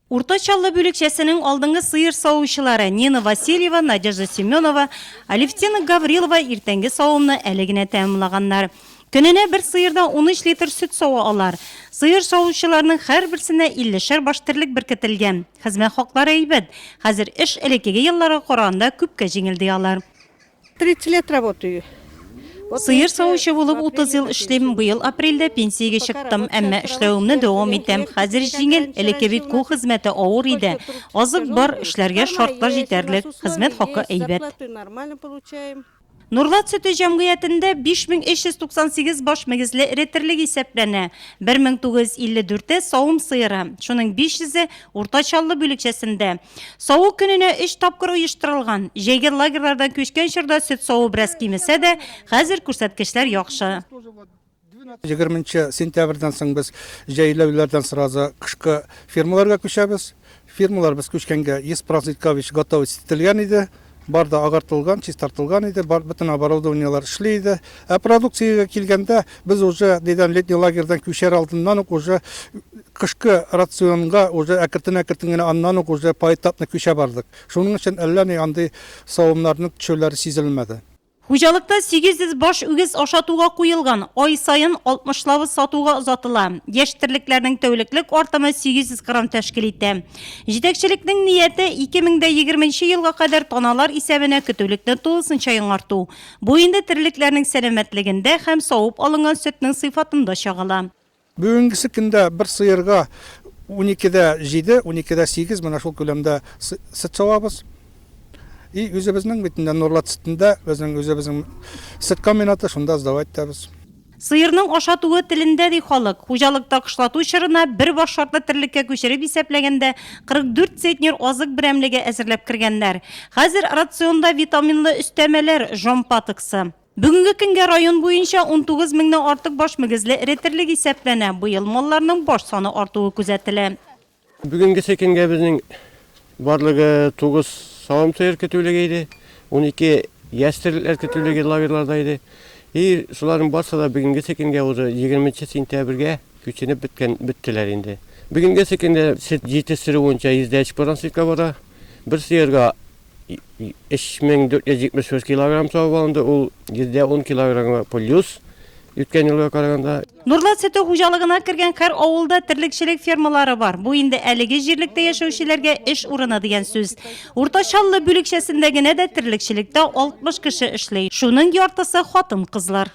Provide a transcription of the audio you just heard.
Урта Чаллы бүлекчәсенең алдынгы сыер савучылары Нина Васильева, Надежда Семенова, Алевтина Гаврилова иртәнге савымны әле генә тәмамлаганнар. Көненә бер сыердан унөч литр сөт сава алар. Сыер савучыларның һәрберсенә иллешәр баш терлек беркетелгән. Хезмәт хаклары әйбәт. Хәзер эш элеккеге елларга караганда күпкә җиңел, ди алар. 30 лет работаю. Сыер савучы булып 30 ел эшлим. Быел апрельдә пенсиягә чыктым, әмма эшләвемне дәвам итәм. Хәзер җиңел, элекке бит кул хезмәте авыр иде. Азык бар, эшләргә шартлар җитәрлек, хезмәт хакы әйбәт. Нурлат сөте җәмгыятендә 5398 баш мөгезле эре терлек исәпләнә. 1954-е савым сыеры, шуның 500-е урта чаллы бүлекчәсендә. Саву көненә өч тапкыр оештырылган. Җәйге лагерьлардан күчкән чорда сөт саву бераз кимесә дә, хәзер күрсәткечләр яхшы. 20 сентябрьдән соң без җәйләүләрдән сразу кышкы фермаларга күчәбез. Фермалар без күчкәнгә 100% готовить ителгән иде. Бар да агартылган, чистартылган иде, бар, бөтен оборудованиелар эшли иде. Ә продукциягә килгәндә, без уже нидән, летний лагерьдан күчәр алдыннан ук уже кышкы рационга уже әкертен-әкертен генә аннан ук уже поэтапно күчә бардык. Шуның өчен әллә ни андый савымнарның төшүләре сизелмәде. Хуҗалыкта 800 баш үгез ашатуга куелган, ай саен алтмышлавы сатуга озатыла. Яшь терлекләрнең тәүлеклек артымы 800 грамм тәшкил итә. Җитәкчелекнең нияте, 2020 нче елга кадәр таналар исәбенә көтүлекне тулысынча яңарту. Бу инде терлекләрнең сәламәтлегендә һәм савып алынган сөтнең сыйфатында чагыла. Бүгенгесе көндә бер сыерга унике дә җиде, унике дә сигез, менә шул күләмдә сөт савабыз. И үзебезнең бит менә Нурлат сөтендә безнең үзебезнең сөт комбинаты, шунда сдавать итәбез. Сыерның ашатуы телендә, ди халык. Хуҗалыкта кышлату чорына бер баш шартлы терлеккә күчереп исәпләгәндә 44 центнер азык берәмлеге әзерләп кергәннәр. Хәзер рационда витаминлы өстәмәләр, жомпа тыксы. Бүгенге көнгә район буенча 19 меңнән артык баш мөгезле эретерлек исәпләнә. Быел малларның баш саны артуы күзәтелә. Бүгенгесе көнгә безнең барлыгы 9 савым сыер көтүлеге иде, 12 яшь терлекләр көтүлеге лагерьларда иде. И шуларның барсы да бүгенгесе көнгә уже 20 нче сентябрьгә күченеп беткән, беттеләр инде. Бүгенгесе көндә сөт җитештерү буенча 100 дә 3 поранчыкка бара. Бер сыерга 3473 килограмм савып алынды, ул %10 килограммга плюс үткән елга караганда. Нурлат сөте хуҗалыгына кергән һәр авылда терлекчелек фермалары бар. Бу инде әлеге җирлектә яшәүчеләргә эш урыны дигән сүз. Уртачаллы бүлекчәсендә генә дә терлекчелектә 60 кеше эшли. Шуның яртысы хатын-кызлар.